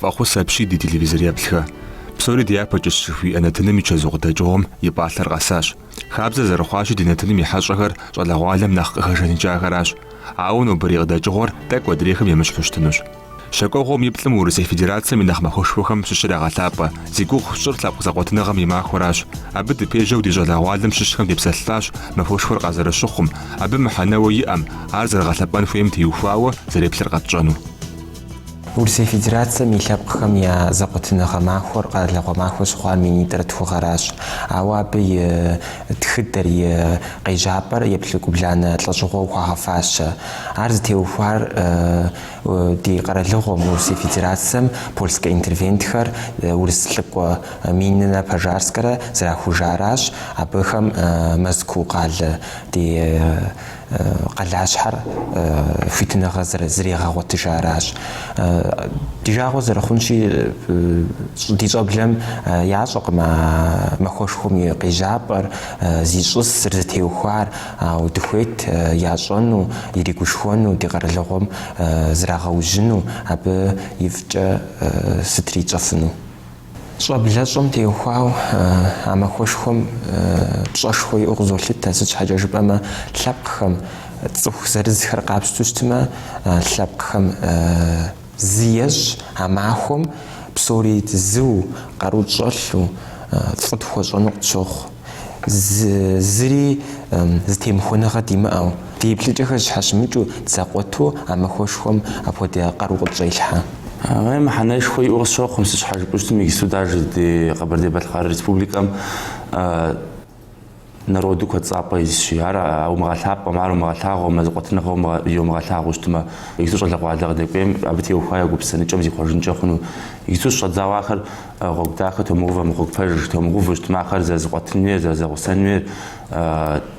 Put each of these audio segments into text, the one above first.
Фӏэхъус апщий ди телевизореплъхэ. Псори дяпэкӏэщ жыхуиӏэ нэтыным и чэзу къыдэкӏыгъуэм и пӏалъэр къэсащ. Хабзэ зэрыхъуащи ди нэтыным и хьэщӏэхэр щӏалэгъуалэм нэхъ къыхэжаныкӏахэращ. Ауэ нобэрей къыдэкӏыгъуэр тӏэкӏу адрейхэм емыщхьу щытынущ. Щакӏуэгъуэм и плӏым Урысей Федерацэм и нэхъ махуэшхуэхэм щыщ ягъэлъапӏэ. Зи гугъу сщӏыр лъэпкъ зэкъуэтыныгъэм и махуэращ. Абы дыпежьэу ди щӏалэгъуалэм щыщхэм депсэлъащ махуэшхуэр къазэрыщыхъум, абы мыхьэнэуэ иӏэм, ар зэрыгъэлъэпӏэн хуейм теухуауэ зэреплъыр къэтщӏэну. Урысей Федерацэм и лъэпкъхэм я зэкъуэтыныгъэ махуэр къэралыгъуэ махуэ щыхъуар минитӏрэ тху гъэращ, ауэ абы и тхыдэр, и къежьапӏэр епщыкӏубланэ лӏэщӏыгъуэу хуагъэфащэ. Ар зытеухуар ди къэралыгъуэм, Урысей Федерацэм польскэ интервентхэр, урыс лӏыкӏуэ Мининрэ Пожарскэрэ зэрахужаращ, абыхэм Мэзкуу къалэ ди къалащхьэр хуитыныгъэ зэрырагъэгъуэтыжаращ. Ди жагъуэ зэрыхъунщи, ди щӏэблэм ящӏэкъым а махуэшхуэм и къежьапӏэр, зищӏысыр, зытеухуар, ауэ дыхуейт ящӏэну, иригушхуэну, ди къэралыгъуэм зрагъэужьыну, абы ифӏкӏэ сытри ищӏэфыну. Щӏэблэщӏэм теухуауэ а махуэшхуэм пщӏэшхуэ иӏэу къызолъытэ, сыт щхьэкӏэ жыпӏэмэ лъэпкъхэм цӏыху зырызхэр къапщтэу щытмэ, лъэпкъхэм зы ещӏ, а махуэм псори зыу, къару тщӏэлъу, фӏы тхуэщӏэну къытщохъу. зыри зэтемыхуэныгъэ димыӏэу, ди еплъыкӏэхэр зэщхьэщымыкӏыу дызэкъуэту а махуэшхуэм апхуэдэ къару къытщӏелъхьэ. Абы мыхьэнэшхуэ иӏэу къысщохъу сыт щхьэ жыпӏэу щытмэ иджыпсту даже ди Къэбэрдей-Балъкъэр Республикэм народу куэд цӏапӏэ исщи. Ар умыгъэлъапӏэм, ар умыгъэлъагъуэмэ, зэкъуэтыныгъэу йомыгъэлъагъуу щытмэ, иджыпсту щӏалэгъуалэ къыдэкӏуейм, абы теухуа я гупсысэныкӏэм зихъуэжынкӏэ хъуну. Иджыпсту щыщӏэдзауэ ахэр Гъуэгу дахэ томыгъэувэмэ, гъуэгу пэж томыгъэувэу щытмэ, ахэр зэрызэкъуэтын хуейр, зэрызэгъусэн хуейр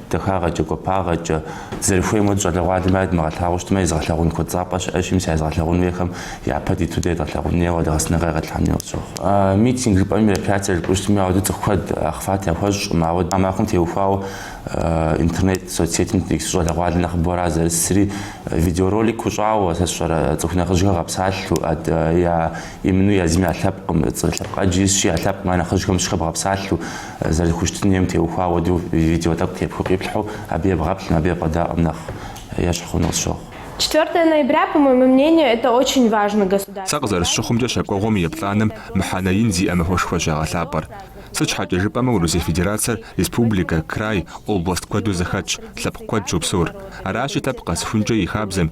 дахагъэкӏэ, гуапагъэкӏэ, зэрыхуейм хуэдэу щӏалэгъуалэм ар едмыгъэлъагъуу щытмэ, езыгъэлъагъун куэдцӏапӏэ щыӏэщ, мис а езыгъэлъагъун хуейхэм япэ диту дэ едгъэлъагъун хуейуэ, а ди гъэсэныгъэ едгъэлъагъун хуейуэ къысщохъу. Митинг жыпӏэми, мероприятие жыпӏэу щытми, ауэдэ цӏыху куэд охват яхуэщӏкъым, ауэ а махуэм теухуауэ интернет соцсетым ди щӏалэгъуалэ нэхъыбэу ара зэрысри, видеоролик хуэщӏауэ, сэ сщӏэрэ, цӏыху нэхъыжьхэр гъэпсалъэу, я Именно езым я лъэпкъым, цӏыху лъэпкъ ӏэджи исщи, я лъэпкъым я нэхъыжьхэм щыхэбгъэпсалъэу, зэрызэхущытын хуейм теухуа хуэдэу видео тӏэкӏу тепхыу къиплъхьэу, абы ебгъэплъым, абы ебгъэдаӏуэм нэхъ ещхь хъуну къысщохъу. Четвертое ноября, по моему мнению, это очень важный государственный праздник. Сэ къызэрысщыхъумкӏэ щэкӏуэгъуэм и плӏанэм мыхьэнэ ин зиӏэ махуэшхуэщ ягъэлъапӏэр. Сыт щхьэкӏэ жыпӏэмэ Урысей Федерацэр республикэ, край, област куэду зэхэтщ, лъэпкъ куэд щопсэур. Аращи, лъэпкъ къэсхункӏэ и хабзэм,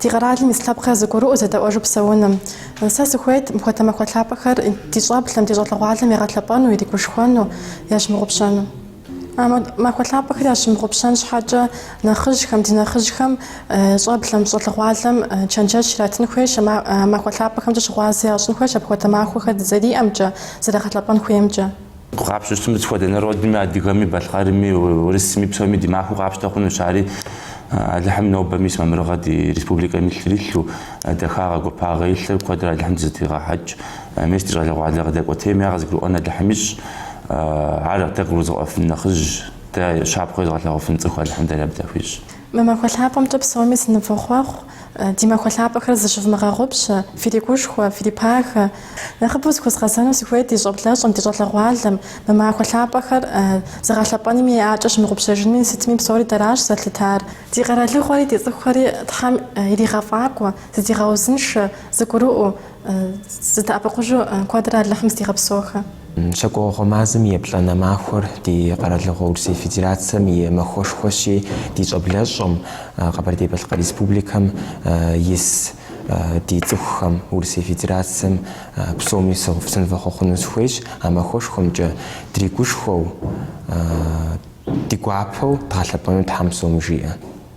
Ди къэралым ис лъэпкъхэр зыгурыӏуэу зэдэӏуэжу псэуным. Сэ сыхуейт мыпхуэдэ махуэ лъапӏэхэр ди щӏэблэм, ди щӏалэгъуалэм ягъэлъэпӏэну, иригушхуэну, ящымыгъупщэну. Махуэ лъапӏэхэр ящымыгъупщэн щхьэкӏэ нэхъыжьхэм, ди нэхъыжьхэм, щӏэблэм, щӏалэгъуалэм чэнджэщ иратын хуейщ, махуэ лъапӏэхэмкӏэ щыгъуазэ ящӏын хуейщ апхуэдэ махуэхэр дызэриӏэмкӏэ, зэрагъэлъэпӏэн хуеймкӏэ. Къапщтэу щытым сыт хуэдэ народми, адыгэми, балъкъэрми, урысми, псоми ди махуэу къапщтэ хъунущ. Ари Алыхьым нобэ мис мамырыгъэ ди республикэм илъыр илъу, дахагъэ, гуапагъэ илъыр куэдрэ Алыхьым дызытригъэхьэкӏ. Мис ди щӏалэгъуалэ къыдэкӏуэтейм я къызыгурыӏуэн Алыхьым ищӏ. Ар дэ къыгурызыгъэӏуэфын нэхъыжь, дэ щапхъэу езыгъэлъэгъуэфын цӏыху Алыхьым дэр абы дахуищӏ. Мы махуэ лъапӏэмкӏэ псоми сынывохъуэхъу, ди махуэ лъапӏэхэр зыщывмыгъэгъупщэ, фиригушхуэ, фирипагэ. Нэхъыбэу зыхуэзгъэзэну сыхуейт ди щӏэблэщӏэм, ди щӏалэгъуалэм, мы махуэ лъапӏэхэр зыгъэлъэпӏэнми яӏэщӏэмыгъупщэжынми, сытми псори дэращ зэлъытар. Ди къэралыгъуэри ди цӏыхухэри Тхьэм иригъэфӏакӏуэ, зыдигъэузыншэ, зыгурыӏуэу, Зыдэӏэпыкъужу куэдрэ Алыхьым здигъэпсохэ. Щэкӏуэгъуэ мазэм и еплӏанэ махуэр ди къэралыгъуэ Урысей Федерацием и махуэшхуэщи, ди щӏэблэщӏэм, Къэбэрдей-Балъкъэр Республикэм ис ди цӏыхухэм, Урысей Федерацием псоми сынывэхъуэхъуну сыхуейщ а махуэшхуэмкӏэ, дригушхуэу, ди гуапэу дгъэлъэпӏэну Тхьэм псоми жиӏэ.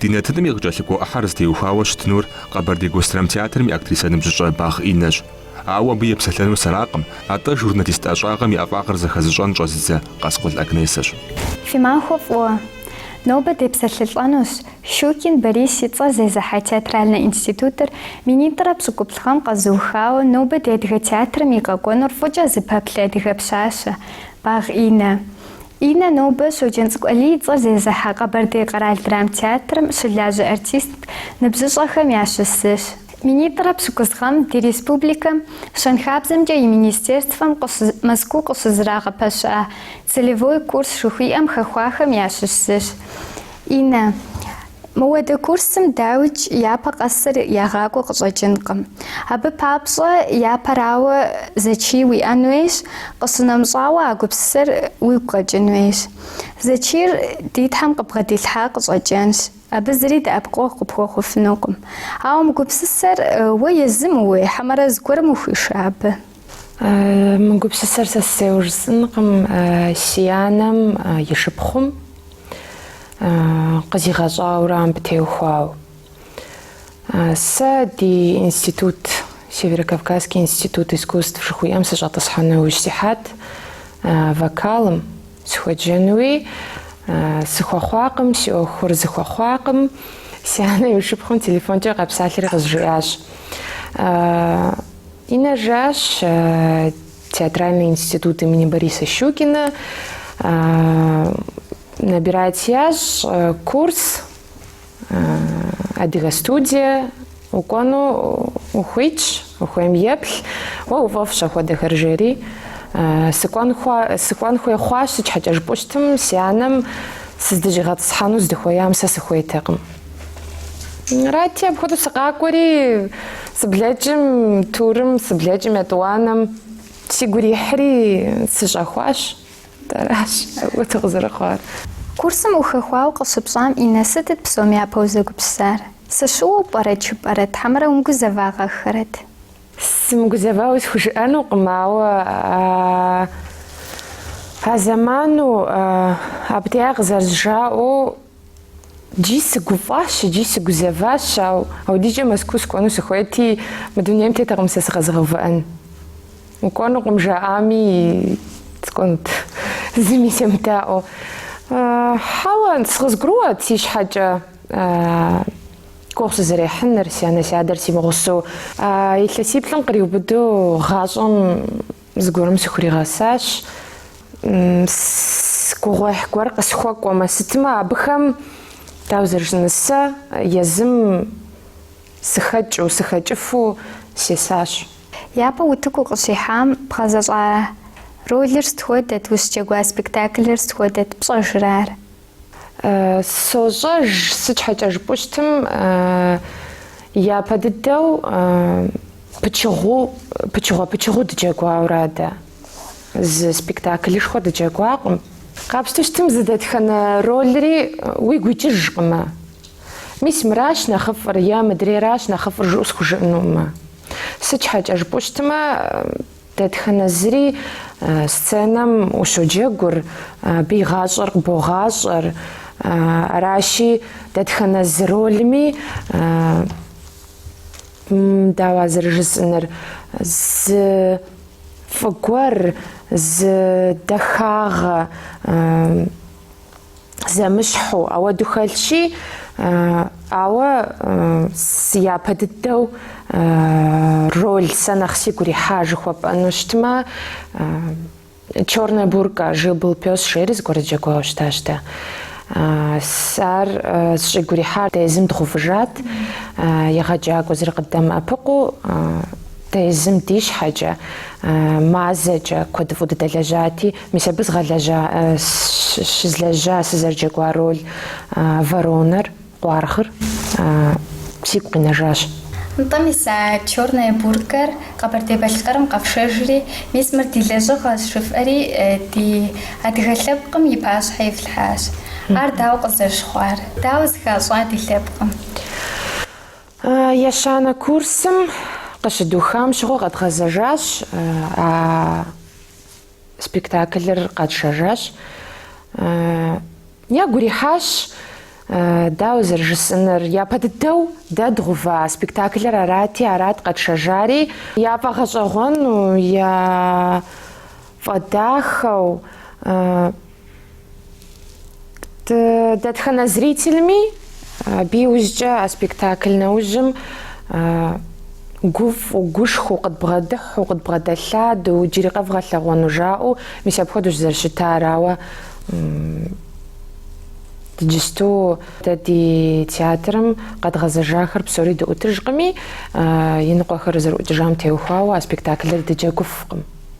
Ди нэтыным и къыкӏэлъыкӏуэ ӏыхьэр зытеухуауэ щытынур Къэбэрдей госдрамтеатрым и актрисэ ныбжьыщӏэ Багъ Иннэщ. Ауэ абы епсэлъэнур сэракъым, атӏэ журналист ӏэщӏагъэм и ӏэфӏагъыр зэхэзыщӏэн щӏэзыдзэ Къаскъул Агнесэщ. Фи махуэ фӏыуэ! Нобэ депсэлъылӏэнущ Щукин Борис и цӏэр зезыхьэ театральнэ институтыр минитӏрэ пщыкӏуплӏ гъэм къэзыухауэ нобэ ди адыгэ театрым и къэкӏуэнур фӏыкӏэ зыпэплъэ адыгэ пщащэ Багъ Иннэ. Иннэ нобэ Щоджэнцӏыкӏу Алий и цӏэр зезыхьэ Къэбэрдей къэрал драмтеатрым щылажьэ артист ныбжьыщӏэхэм ящыщ зыщ. Минитӏрэ пщыкӏуз гъэм ди республикэм Щэнхабзэмкӏэ и министерствэм къыщ Мэзкуу къыщызэрагъэпэща целевой курс жыхуиӏэм хэхуахэм ящыщ зыщ, Иннэ. Мыуэдэ курсым дауикӏ япэ къэсыр ягъакӏуэ къыщӏэкӏынкъым. Абы папщӏэ япэрауэ зэчий уиӏэн хуейщ, къыщынэмыщӏауэ а гупсысэр уигу къэкӏын хуейщ. Зэчийр ди Тхьэм къыпбгъэдилъхьа къыщӏэкӏынщ, абы зыри дэӏэпыкъуэгъу къыпхуэхъуфынукъым. Ауэ мы гупсысэр уэ езым ууей хьэмэрэ зыгуэрым ухуиша абы? Мы гупсысэр сэ сысейуэ жысӏэнкъым си анэм и шыпхъум къызигъэщӏауэрэ абы теухуауэ. Сэ ди институт, Северокавказский институт искусств жыхуиӏэм сыщӏэтӏысхьэну иужь сихьат вокалым, сыхуеджэнуи сыхуэхъуакъым, си ӏуэхур зыхуэхъуакъым. Си анэм и шыпхъум телефонкӏэ къэпсалъэри къызжиӏащ. Инна, жиӏащ, театральный институт имени Бориса Щукина набирать ящӏ курс Адыгэ студие укӏуэну ухуитщ, ухуейм еплъ, уэ уфӏэфӏщ ахуэдэхэр жери. Сыкӏуэн, хуа, сыкӏуэн хуей хъуащ, сыт щхьэкӏэ жыпӏущтым, си анэм сыздыщӏигъэтӏысхьэну здыхуеям сэ сыхуейтэкъым. Арати, апхуэдэу сыкъакӏуэри, сыблэкӏым турым, сыблэкӏым етӏуанэм сигу ирихьри сыщӏэхуащ. Аращ апхуэдэу къызэрыхъуар. Курсым ухэхуауэ къыщыпщӏам Инна, сытыт псом япэу узэгупсысар? Сыщыуэу пӏэрэ жыпӏэрэт, хьэмэрэ умыгузэвагъэххэрэт? Сымыгузэвауэ схужыӏэнукъым, ауэ а зэману абы деа къызэрызжаӏэу, Икӏи сыгуфӏащ икӏи сыгузэващ, ауэ апхуэдизкӏэ Мэзкуу сыкӏуэну сыхуейти, мы дунейм теттэкъым сэ сыкъэзыгъэувыӏэн. Укӏуэнукъым жаӏами, сыкӏуэнут, зыми семыдаӏуэу. Хьэуэ, сэ къызгурыӏуэт си щхьэкӏэ гугъу сызэрехьыныр, си анэ-си адэр си мыгъусэу. Илъэсиплӏым къриубыдэу гъащӏэм Зыгуэрым сыхуригъэсащ. Гугъуехь гуэр къысхуэкӏуэмэ, сытымэ абыхэм, дауэ зэрыжысӏэныр, сэ езым сыхэкӏыу, сыхэкӏыфу сесащ. Япэу утыку укъыщихьам бгъэзэщӏа ролыр сыт хуэдэт, ущыджэгуа спектаклыр сыт хуэдэт, пщӏэжрэ ар? Сощӏэж, сыт щхьэкӏэ жыпӏущтым, япэ дыдэу пычыгъуу, пычыгъуэ пычыгъуу дыджэгуауэ арат дэ. Зы спектаклышхуэ дыджэгуакъым. Къапщтэу щытым зы дэтхэнэ ролри уигу икӏыжкъымэ. Мис мыращ нэхъыфӏыр е мыдрейращ нэхъыфӏыр жыӏэу схужыӏэнукъымэ. Сыт щхьэкӏэ жыпӏущтымэ, Дэтхэнэ зыри сценэм ущоджэгур, абы и гъащӏэр къыбогъащӏэр. Аращи, дэтхэнэ зы ролми, дауэ а зэрыжысӏэныр, зы фӏы гуэр, зы дахагъэ, зэмыщхьу, ауэду хэлъщи, ауэ япэ дыдэу роль сэ нэхъ сигу ирихьа жыхуэпӏэну щытмэ, черная бурка, жил-был пес жери зыгуэр сыджэгуауэ щытащ дэ. Ар сщӏигу рихьар дэ езым дгъувыжат, егъэджакӏуэ зыри къыддэмыӏэпыкъуу, дэ езым ди щхьэкӏэ, мазэкӏэ куэдыфӏу дыдэлэжьати, Мис абы згъэлэжьа, щызлэжьа, сызэрыджэгуа роль воронэр, къуаргъыр сигу къинэжащ. Нтӏэ, мис а Черная буркэр Къэбэрдей-Балъкъэрым къэфшэжри, мис мыр ди лэжьыгъэщ жыфӏэри, ди адыгэ лъэпкъым и пащхьэ ифлъхьащ. Ар дауэ къызэрыщыхъуар? Дауэ зыхащӏа ди лъэпкъым? Ещанэ курсым къыщыдухам щыгъуэ къэдгъэзэжащ а Спектаклыр къэтшэжащ. Ягу ирихьащ, дауэ зэрыжысӏэнур, япэ дыдэу дэ дгъува спектаклыр арати, арат къэтшэжари. Яфӏэгъэщӏэгъуэну, яфӏэдахэу. Дэтхэнэ зрителми абы иужькӏэ а спектакль нэужьым гуфӏу, гушхуэу, къыдбгъэдыхьу, къыдбгъэдэлъадэу, джыри къэвгъэлъэгъуэну жаӏэу, мис апхуэдэущ зэрыщытар, ауэ иджысту дэ ди театрым къэдгъэзэжахэр псори дыӏутыжкъыми, иныкъуэхэр зэрыӏукӏыжам теухуауэ а спектаклыр дыджэгуфкъым.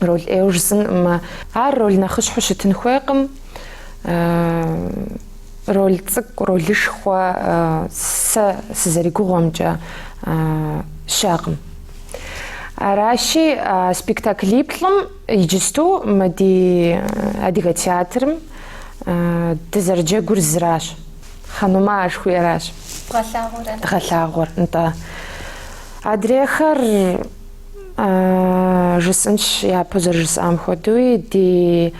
роль ӏейуэ жысӏэнкъым. Ар роль нэхъыщхьэу щытын хуейкъым. Роль цӏыкӏу, ролышхуэ сэ сызэригугъуэмкӏэ щыӏэкъым. Аращи, спектаклиплӏым иджысту мы ди адыгэ театрым дызэрыджэгур зыращ. Ханума жыхуиӏэращ дгъэлъагъуэр, нтӏэ. Адрейхэр. Жысӏэнщ япэу зэрыжысӏам хуэдэуи, ди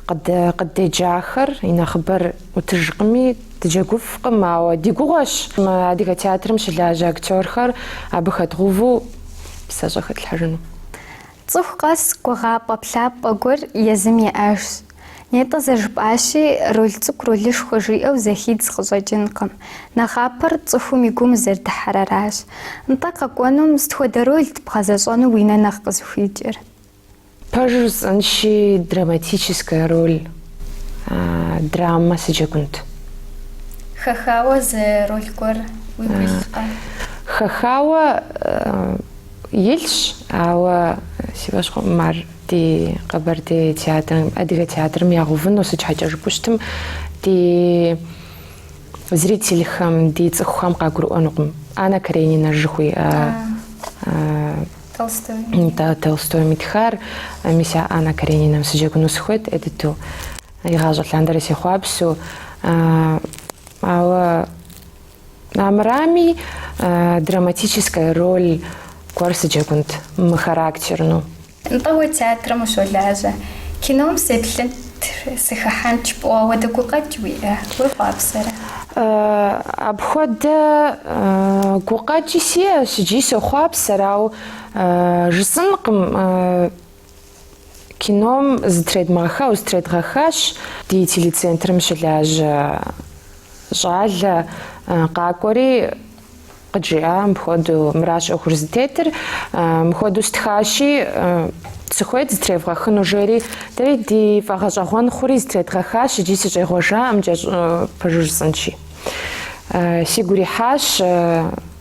къыддеджахэр и нэхъыбэр ӏутыжкъыми, дыджэгуфкъым, ауэ ди гугъуэщ. Мы адыгэ театрым щылажьэ актерхэр абы хэдгъуву псэщӏэ хэтлъхьэжыну. Цӏыху къэс гугъапӏэ-плъапӏэ гуэр езым иӏэжщ. Нетӏэ зэжыпӏащи, роль цӏыкӏу ролышхуэ жиӏэу зэхидз къыщӏэкӏынкъым. Нэхъапэр цӏыхум и гум зэрыдыхьэр аращ. Нтӏэ къэкӏуэнум, сыт хуэдэ рольт бгъэзэщӏэну уи нэ нэхъ къызыхуикӏыр? Пэжу жысӏэнщи, драматическая роль, драма сыджэгунт. Хэхауэ зы роль гуэр уигу илъкъэ? Хэхауэ илъщ, ауэ си фӏэщ хъуӏым ар. Ди Къэбэрдей театрым, Адыгэ театрым ягъэувыну сыт щхьэкӏэ жыпӏэу щытым, ди зрительхэм, ди цӏыхухэм къагурыӏуэнукъым. Анна Каренина жыхуиӏэ Толстойм итхар, мис а Анна Каренинам сыджэгуну сыхуейт ӏей дыдэу. Игъащӏэ лъандэрэ сехъуапсэу. Ауэ Армырами, драматическая роль гуэр сыджэгунт мыхарактерну. Нтӏэ уэ театрым ущолажьэ, кином сеплъынт, сыхыхьэнт жыпӏэу апхуэдэ гукъэкӏ уиӏэ, уехъуапсэрэ? Апхуэдэ гукъэкӏи сиӏэщ икӏи сохъуапсэр, ауэ жысӏэнкъым. Кином зытредмыгъэхауэ зытредгъэхащ ди телецентрым щылажьэ щӏалэ къакӏуэри къыджиӏа мыпхуэдэу мыращ ӏуэхур зытетыр мыпхуэдэу стхащи сыхуейт зытревгъэхыну жери дэри ди фӏэгъэщӏэгъуэн хъури зытредгъэхащ икӏи сыщӏегъуэжаӏым икӏи пэжу жысӏэнщи сигу ирихьащ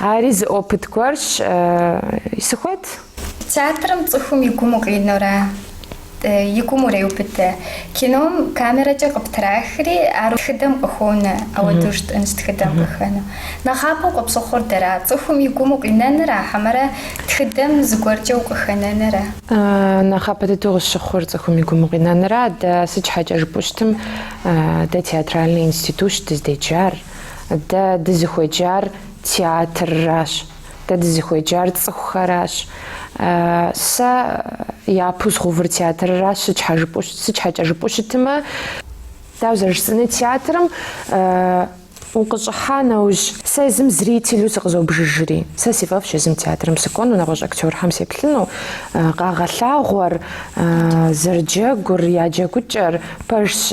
Ари зы опыт гуэрщ. Сыхуейт. Театрым цӏыхум и гум укъинэурэ, и гум уреубыдэ. Кином камерэкӏэ къыптрахри, ар тхыдэм къыхонэ, апхуэдэу жытӏэнщ тхыдэм къыхэну. Нэхъапэу къыпщыхъур дара, цӏыхум и гум укъинэнра хьэмэрэ тхыдэм зыгуэркӏэ укъыхэнэнра? Нэхъапэ дыдэу къысщыхъур цӏыхум и гум укъинэнра. Дэ сыт щхьэкӏэ жыпӏэу щытым, дэ театральный институщ дыздеджар. Дэ дызыхуеджар театрращ, дэ дызыхуеджар цӏыхухэращ. Сэ япэу згъэувыр театрращ, сыт щхьэкӏэ жыпӏэу щытымэ, дауэ зэрыжысӏэнур театрым укъыщӏыхьа нэужь, сэ езым зрителу сыкъызобжыжри, сэ си фӏэфӏщ езым театрым сыкӏуэну, нэгъуэщӏ актёрхэм сеплъыну, къагъэлъагъуэр, зэрыджэгур, я джэгукӏэр пэжщ.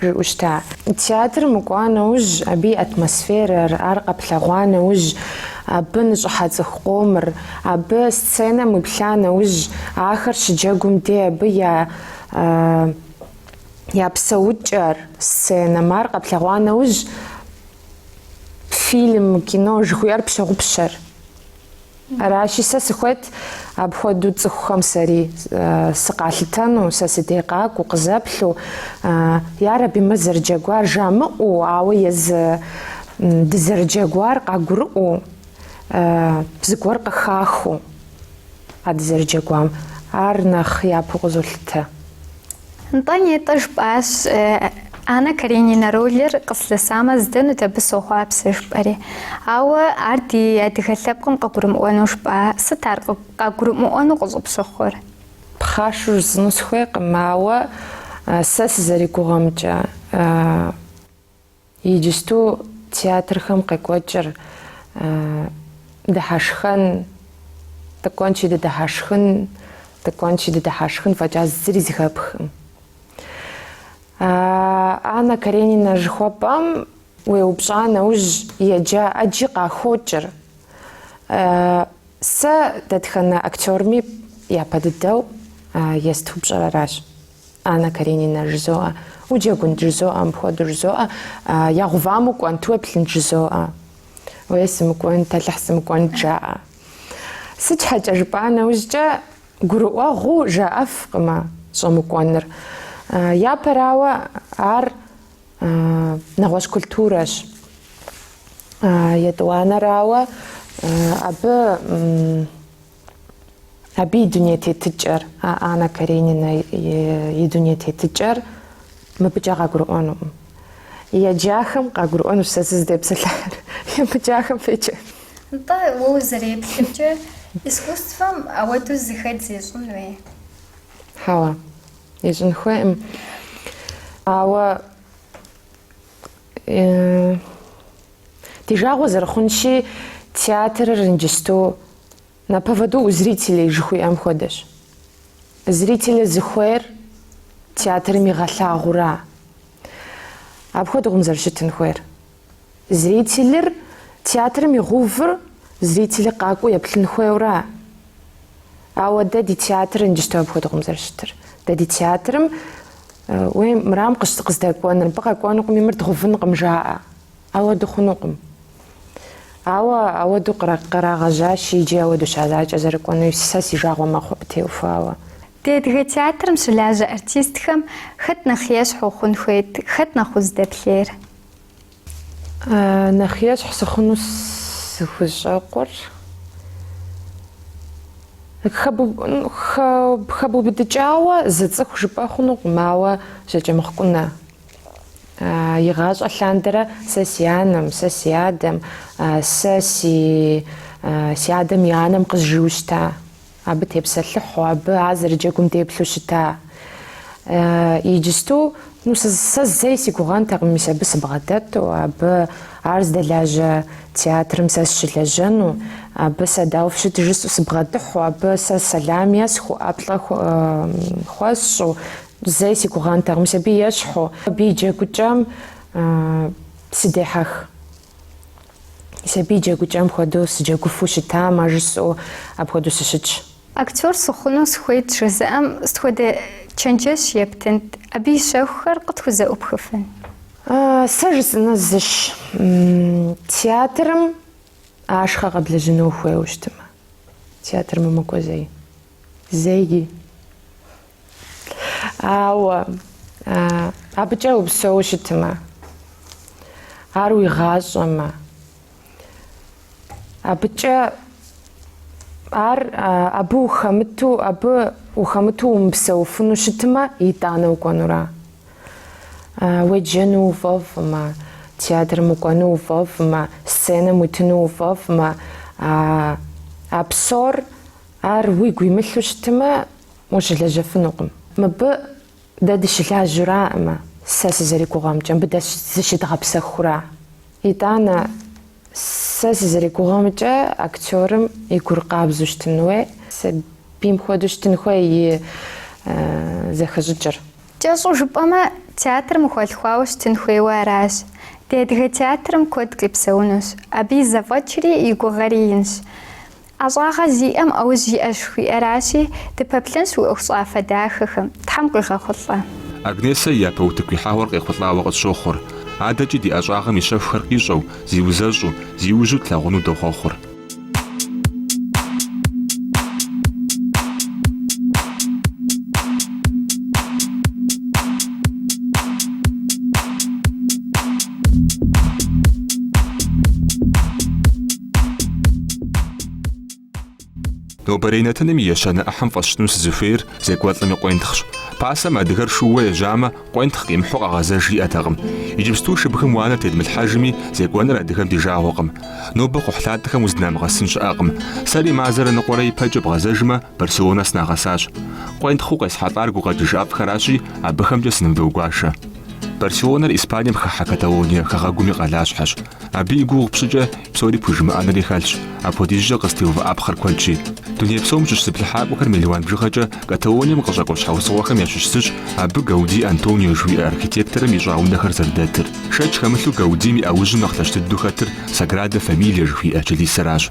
жыӏущта? Театрым укӏуа нэужь, абы и атмосферэр, ар къэплъэгъуа нэужь, абы ныщӏыхьэ цӏыху къомыр, абы сценэм уиплъа нэужь, ахэр щыджэгум де абы я я псэукӏэр, сценэм, ар къэплъэгъуа нэужь, фильм, кино жыхуиӏэр пщогъупщэр. Аращи, сэ сыхуейт апхуэдэу цӏыхухэм сэри сыкъалъытэну, сэ си де къакӏуэу, къызэплъу, ярэби, мыр зэрыджэгуар жамыӏэу, ауэ езы дызэрыджэгуар къагурыӏуэу, зыгуэр къыхахыу а дызэрыджэгуам, ар нэхъ япэу къызолъытэ. Нтӏэ, нетӏэ жыпӏащ, Анна Каренина ролыр къыслъысамэ, здэнут абы сохъуапсэ, жыпӏэри. Ауэ ар ди адыгэ лъэпкъым къыгурымыӏуэну жыпӏа? Сыт ар къагурымыӏуэну къыщӏыпщыхъур? Пхъашэу жысӏэну схуейкъым, ауэ сэ сызэригугъэмкӏэ, Иджысту театрхэм къекӏуэкӏыр дыхьэшхэн, дыкӏуэнщи дыдыхьэшхын, дыкӏуэнщи дыдыхьэшхын фӏэкӏа зыри зыхэпхкъым. Анна Каренина жыхуэпӏэм уеупщӏа нэужь еджа ӏэджи къахокӏыр. Сэ дэтхэнэ актерми япэ дыдэу ест упщӏэр аращ. Анна Каренина жызоӏэ, уджэгунт жызоӏэ, мыпхуэдэу жызоӏэ, ягъувам укӏуэнт, уеплъынт жызоӏэ, уей сымыкӏуэнт, Алыхь сымыкӏуэнт жаӏэ. Сыт щхьэкӏэ жыпӏа нэужькӏэ гурыӏуэгъуу жаӏэфкъымэ щӏэмыкӏуэныр. Япэрауэ ар нэгъуэщӏ культурэщ. Етӏуанэрауэ абы Абы и дуней тетыкӏэр, а Анна Каренина и дуней тетыкӏэр мыбыкӏэ къагурыӏуэнукъым. Еджахэм къагурыӏуэнущ сэ сызытепсэлъыхьыр, емыджахэм феджэ. Нтӏэ, уэ узэреплъымкӏэ, искусствэм ауэдэу зэхэдз ищӏын хуей. Хьэуэ, ищӏын хуейкъым. Ауэ. Ди жагъуэ зэрыхъунщи, театрыр иджысту на поводу у зрителей жыхуиӏэм хуэдэщ. Зрителыр зыхуейр театрым игъэлъагъура? Апхуэдэкъым зэрыщытын хуейр. Зрителыр театрым игъувыр зрителыр къакӏуэу еплъын хуейура? Ауэ дэ ди театрыр иджысту апхуэдэкъым зэрыщытыр. Дэ ди театрым уей мырам къыздэкӏуэныр, мыбы къэкӏуэнукъыми, мыр дгъувынкъым жаӏэ. Ауэду хъунукъым. Ауэ ауэду къырагъэжьащи, иджы ауэду щазакӏэ зэрыкӏуэнуи, сэ си жагъуэ мэхъу абы теухуауэ. Ди адыгэ театрым щылажьэ артистхэм хэт нэхъ ещхь ухъун хуейт, хэт нэхъ уздэплъейр? Нэхъ ещхь сыхъуну сыхущӏэкъур хэбубыдыкӏауэ зы цӏыху жыпӏэ хъунукъым, ауэ Жьакӏэмыхъу Кӏунэ. Игъащӏэ лъандэрэ сэ си анэм, сэ си адэм, сэ си адэм и анэм къызжиӏэу щыта. Абы тепсэлъыхьу, абы ар зэрыджэгум деплъу щыта. Иджысту, ну, сэ зэи си гугъэнтэкъым мис абы сыбгъэдэту, абы ар здэлажьэ театрым сэ сщылэжьэну, абы сэ дауэ фыщыт жысӏэу сыбгъэдыхьу, абы сэ сэлам есхыу, ӏэплӏэ хуэсщӏу, зэи си гугъэнтэкъым мис абы ещхьу, абы и джэгукӏэм сыдехьэх. Мис абы и джэгукӏэм хуэдэу сыджэгуфу щытамэ жысӏэу апхуэдэу сыщытщ. Актер сыхъуну сыхуейт жызыӏэм, сыт хуэдэ чэнджэщ ептынт, абы и щэхухэр къытхузэӏупхыфын? Сэ жысӏэныр зыщ, театрым ашхъэ къэблэжьыну ухуейуэ щытымэ, театрым умыкӏуэ зэи, зэи. Ауэ абыкӏэ упсэу щытмэ, ар уи гъащӏэмэ, абыкӏэ ар абы ухэмыту, абы ухэмыту умыпсэуфыну щытмэ, итӏанэ укӏуэнура. Уеджэну уфӏэфӏмэ, театрым укӏуэну уфӏэфӏмэ, сценэм уитыну уфӏэфӏмэ, а псор ар уигу имылъу щытмэ, Ущылэжьэфынукъым. Мыбы дэ дыщылажьэураӏымэ, сэ сызэригугъэмкӏэ, мыбы дэ зыщыдгъэпсэхура. Итӏанэ, сэ сызэригугъэмкӏэ, актерым и гур къабзэу щытын хуей, сабийм хуэдэу щытын хуей и зэхэщӏыкӏыр. Кӏэщӏу жыпӏэмэ, театрым ухуэлъхуауэ щытын хуейуэ аращ. Ди адыгэ театрым куэд къипсэунущ. Абы и зэфӏэкӏри и гугъэри инщ. ӏэщӏагъэ зиӏэм ӏэужь иӏэщ жыхуиӏэращи, дыпэплъэнщ уи ӏуэхущӏафэ дахэхэм, Тхьэм къуигъэхъулӏэ. Агнесэ и япэ утыку ихьэгъуэр къехъулӏауэ къытщохъур. Адэкӏи ди ӏэщӏагъэм и щэхухэр къищӏэу, зиузэщӏу, зиужьу тлъагъуну дохъуэхъур. Нобэрей нэтыным и ещанэ ӏыхьэм фӏэсщӏыну сызыхуейр зекӏуэлӏым и къуентхъщ. Пасэм адыгэр шууэ ежьамэ, къуентхъ къимыхьу къэгъэзэж иӏэтэкъым. Иджыпсту шыбгым уанэ тедмылъхьэжми, зекӏуэныр адыгэм ди жагъуэкъым. Нобэ кхъухьлъатэхэм уздынамыгъэсын щыӏэкъым. Сэри мазэрэ ныкъуэрэ ипэкӏэ бгъэзэжмэ, Барселонэ сынагъэсащ. Къуентхъыу къесхьэлӏар гукъэкӏыж ӏэфӏхэращи, абыхэмкӏэ сынывдогуашэ. Барселонэр Испанием хыхьэ Каталония хэгъэгум и къалащхьэщ. Абы и гугъу пщӏыкӏэ псори пхужымыӏэнри хэлъщ, апхуэдизкӏэ къызытеувыӏэпхъэр куэдщи. Дуней псом щыщ зыплъыхьакӏуэхэр мелуан бжыгъэкӏэ Каталонием къыщӏэкӏуэ щхьэусыгъуэхэм ящыщ зыщ абы Гауди Антонио жыхуиӏэ архитекторым ищӏа унэхэр зэрыдэтыр. Шэч хэмылъу Гаудим и ӏэужьым нэхъ лъэщ дыдэу хэтыр Саграда Фамилия жыхуиӏэ чылисэращ.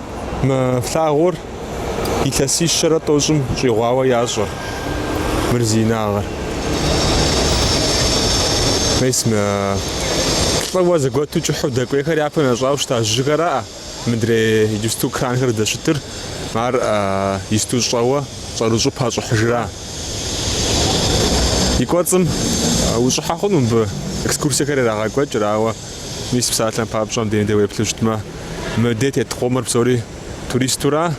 Мы флъагъур илъэсищэрэ тӏощӏым щӏигъуауэ ящӏэ мыр зи инагъыр. Мес мы плӏыуэ зэгуэту кӏыхьу дэкӏуейхэр япэм ящӏауэ щыта жьыхэраӏэ мыдрей иджысту кранхэр дэщытыр, ар исту щӏэуэ щӏэрыщӏу пащӏыхьыжра. И кӏуэцӏым ущӏыхьэ хъуну мыбы экскурсиехэр ирагъэкӏуэкӏыр, ауэ Мис псалъэм папщӏэ мыбдеж дэ уеплъу щытмэ, мыдей тет къомыр псори туристура,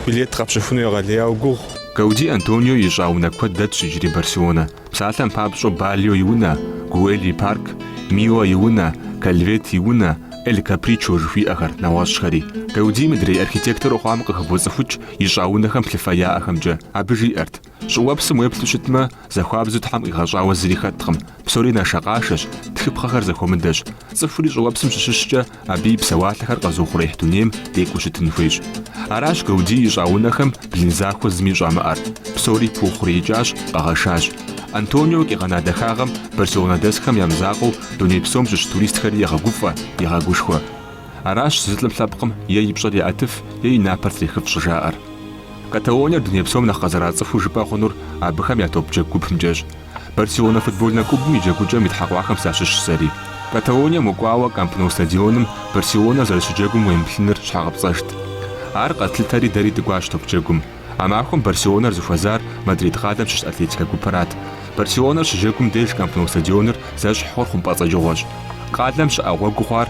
билет къэпщыхуну егъэлеяуэ гугъу. Гауди Антонио ищӏа унэ куэд дэтщ иджыри Барселонэ. Псалъэм папщӏэу Бальо и унэ, Гуэль и парк, Мила и унэ, Кальвет и унэ, Эль Капричо жыхуиӏэхэр, нэгъуэщӏхэри. Гауди мыдрей архитектору хъуам къыхыбоцӏыхукӏ ищӏа унэхэм плъыфэ яӏэхэмкӏэ. Абы жиӏэрт. Щӏыуэпсым уеплъу щытмэ, зэхуабзэу Тхьэм къигъэщӏауэ зыри хэткъым, псори нашэкъашэщ, тхыпхъэхэр зэхуэмыдэщ. Цӏыхури щӏыуэпсым щыщыщкӏэ, абы и псэуалъэхэр къэзыухъуреихь дунейм декӏуу щытын хуейщ. Аращ Гауди ищӏа унэхэм блын захуэ зыми щӏамыӏэр. Псори пыухъуреикӏащ, къэгъэшащ. Антонио къигъэна дахагъэм Барселонэ дэсхэм я мызакъуэу дуней псом щыщ туристхэри егъэгуфӏэ, егъэгушхуэ. Аращ зы лӏым лъэпкъым е и пщӏэр еӏэтыф, е и напэр трехыф щӏыжаӏэр. Каталониер дуней псом нэхъ къэзэрацӏыхуу жыпӏэ хъунур абыхэм я топ джэгу гупымкӏэщ. Барселонэ футбольнэ клубым и джэгукӏэм итхьэкъуахэм сащыщщ сэри. Каталонием укӏуауэ Камп Ноу стадионым Барселонэр зэрыщыджэгум уемыплъыныр щхьэгъэпцӏэжт. Ар къэтлъытэри дэри дыкӏуащ топ джэгум. А махуэм Барселонэр зыхуэзар Мадрид къалэм щыщ Атлетикэ гупырат. Барселонэр щыджэгум деж Камп Ноу стадионыр зэщхь хъур хъумпӏэцӏэджыгъуэщ. Къалэм щыӏэ гъуэгу хъуар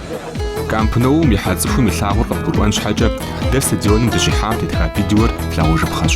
Камп Ноум ихьэ цӏыхум илъагъур къыбгурыӏуэн щхьэкӏэ, дэ стадионым дыщихьам тетха видеор лъагъужыпхъэщ.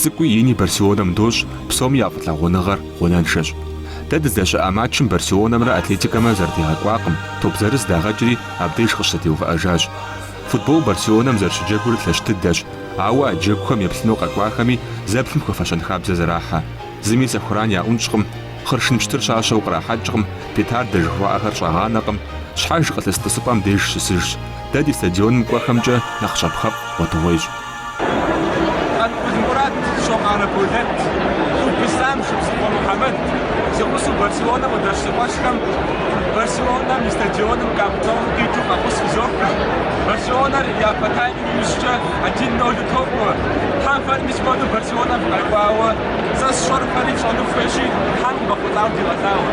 Цӏыкӏуи ини Барселонэм дощӏ, псоми я фӏылъагъуныгъэр гъунэншэщ. Дэ дыздэщыӏа матчым Барселонэмрэ Атлетикэмрэ зэрытегъэкӏуакъым, топ зырыз дагъэкӏри абдеж къыщызэтеувыӏэжащ. Футбол Барселонэм зэрыщыджэгур лъэщ дыдэщ, ауэ а джэгухэм еплъыну къэкӏуахэми зэплъым хуэфэщэн хабзэ зэрахьэ. Зыми сэхуран яӏунщӏкъым, хъыршын пщтыр щащэу кърахьэкӏкъым, петардэ жыхуаӏэхэр щӏагъанэкъым. Щхьэж къылъыс тӏысыпӏэм деж щысыжщ. Дэ ди стадионым кӏуэхэмкӏэ нэхъ щапхъэфӏ гъуэтыгъуейщ. Къанкъул Мурат, Щокъарэ Болэт, Куб Ислъам, Шыбзыхъуэ Мухьэмэд си гъусэу Барселонэм къыдэщӏ си къуэшхэм Барселонэм и стадионым Камп Ноу къикӏыу фӏэхъус фызох. Барселонэр япэ таймым иужькӏэ один нолу токӏуэ. Тхьэм фэри мис хуэдэу Барселонэм фыкъэкӏуауэ. Сэ сщӏэр фэри фщӏэну фыхуейщи, Тхьэм къывэхъулӏауэ дигъэлъагъуэ.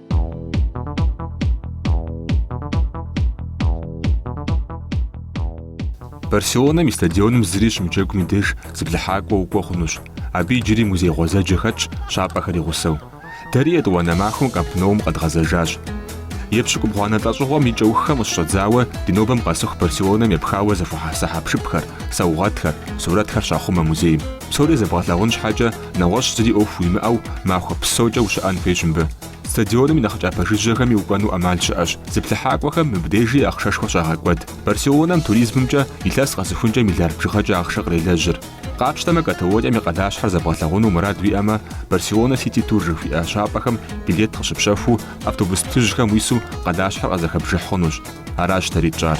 Барселонэм и стадионым зыри щымыджэгум и деж зыплъыхьакӏуэ укӏуэ хъунущ. Абы иджыри музей гъуэзэджэ хэтщ, щапӏэхэр и гъусэу. Дэри етӏуанэ махуэм Камп Ноум къэдгъэзэжащ. Епщыкӏубгъуанэ лӏэщӏыгъуэм и кӏэуххэм къыщыщӏэдзауэ ди нобэм къэсыху Барселонэм епхауэ зэхуэхьэса хьэпшыпхэр, саугъэтхэр, сурэтхэр щахъумэ музейм. Псори зэбгъэлъагъун щхьэкӏэ, Нэгъуэщӏ зыри ӏуэху уимыӏэу махуэ псокӏэ ущыӏэн хуейщ мыбы. Стадионым и нэхъ кӏапэ жыжьэхэми укӏуэну ӏэмал щыӏэщ. Зыплъыхьакӏуэхэм мыбдежи ахъшэшхуэ щагъэкӏуэд. Барселонэм туризмымкӏэ илъэс къэсыхункӏэ миллиард бжыгъэкӏэ ахъшэ кърелэжьыр. Къапщтэмэ, Каталонием и къалащхьэр зэбгъэлъагъуну мурад уиӏэмэ, Барселона Сити Тур жыхуиӏэ щапӏэхэм билет къыщыпщэхуу, автобус плъыжьхэм уису къалащхьэр къызэхэбжыхь хъунущ. Аращ дэри тщӏар.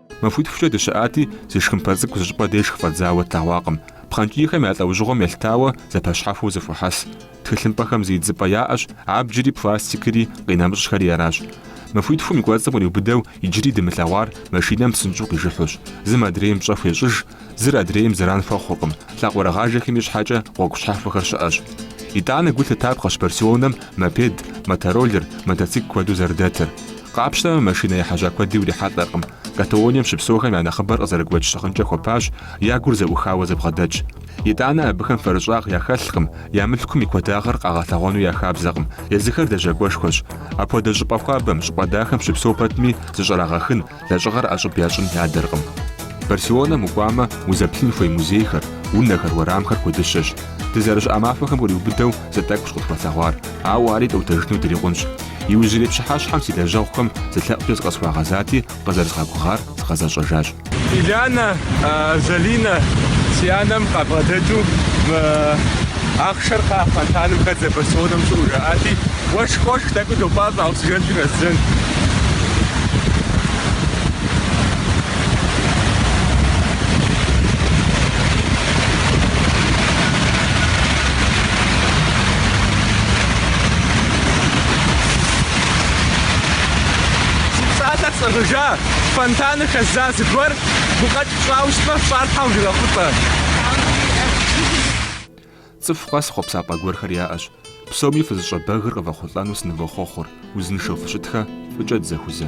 Махуитхукӏэ дыщыӏати, зы шхымпэ цӏыкӏу зы щӏыпӏэ деж хыфӏэдзауэ тлъэгъуакъым. Пхъэнкӏийхэм я лӏэужьыгъуэм елъытауэ зэпэщхьэхуэу зэхуахьэс. Тхылъымпӏэхэм зы идзыпӏэ яӏэщ, абджри, пластикри, къинэмыщӏхэри аращ. Махуитхум и кӏуэцӏым къриубыдэу иджыри дымылъэгъуар машинэм псынщӏэу къижыхьущ. Зым адрейм пщӏэ хуещӏыж, Зыр адрейм зэран хуэхъуркъым, лъакъуэрыгъажэхэми щхьэкӏэ гъуэгу щхьэхуэхэр щыӏэщ. Итӏанэ гу лъытапхъэщ Барселонэм мопед, мотороллер, мотоцикл куэду зэрыдэтыр. Къапщтэмэ, машинэ ехьэжьа куэди урихьэлӏэркъым. Каталонием щыпсэухэм я нэхъыбэр къызэрыгуэкӏ щыгъынкӏэ хуэпащ, я гур зэӏухауэ зэбгъэдэтщ. Итӏанэ абыхэм фэрыщӏагъ яхэлъкъым, я мылъкум и куэдагъыр къагъэлъэгъуэну я хабзэкъым. Езыхэр лэжьакӏуэшхуэщ. Апхуэдэ щӏыпӏэ хуабэм, щӏыпӏэ дахэм щыпсэу пэтми, зыщӏэрагъэхын, Лэжьыгъэр ӏэщӏыб ящӏын ядэркъым. Барселонэм укӏуамэ, узэплъын хуей музейхэр, унэхэр, уэрамхэр куэдыщэщ. Дызэрыщыӏа махуэхэм къриубыдэу зы тӏэкӏущ къытхуэлъэгъуар, ауэ ари тӏуэтэжыну дырикъунщ. Иужьрей пщыхьэщхьэм си лэжьэгъухэм зы лъэӏукӏэ зыкъысхуагъэзати, къызэрызгъэгугъар згъэзэщӏэжащ. Илянэ, Залинэ, си анэм къабгъэдэкӏыу мы ахъшэр кхъа фонтаным хэдзэ Барселонэм щыӏэу жаӏати, Уэшх къошх, тӏэкӏу допӏащӏэ оксижен дыхэсыжын. Си псалъэр сӏыгъыжа, фонтаным хэздза, зыгуэр гукъэкӏ фщӏауэ щытмэ, фщӏар Тхьэм къывигъэхъулӏэ. Цӏыху къэс хъуэпсапӏэ гуэрхэр яӏэщ. Псоми фызыщӏэбэгыр къывэхъулӏэну сынывохъуэхъур, узыншэу фыщытхэ, фӏыкӏэ дызэхузэ.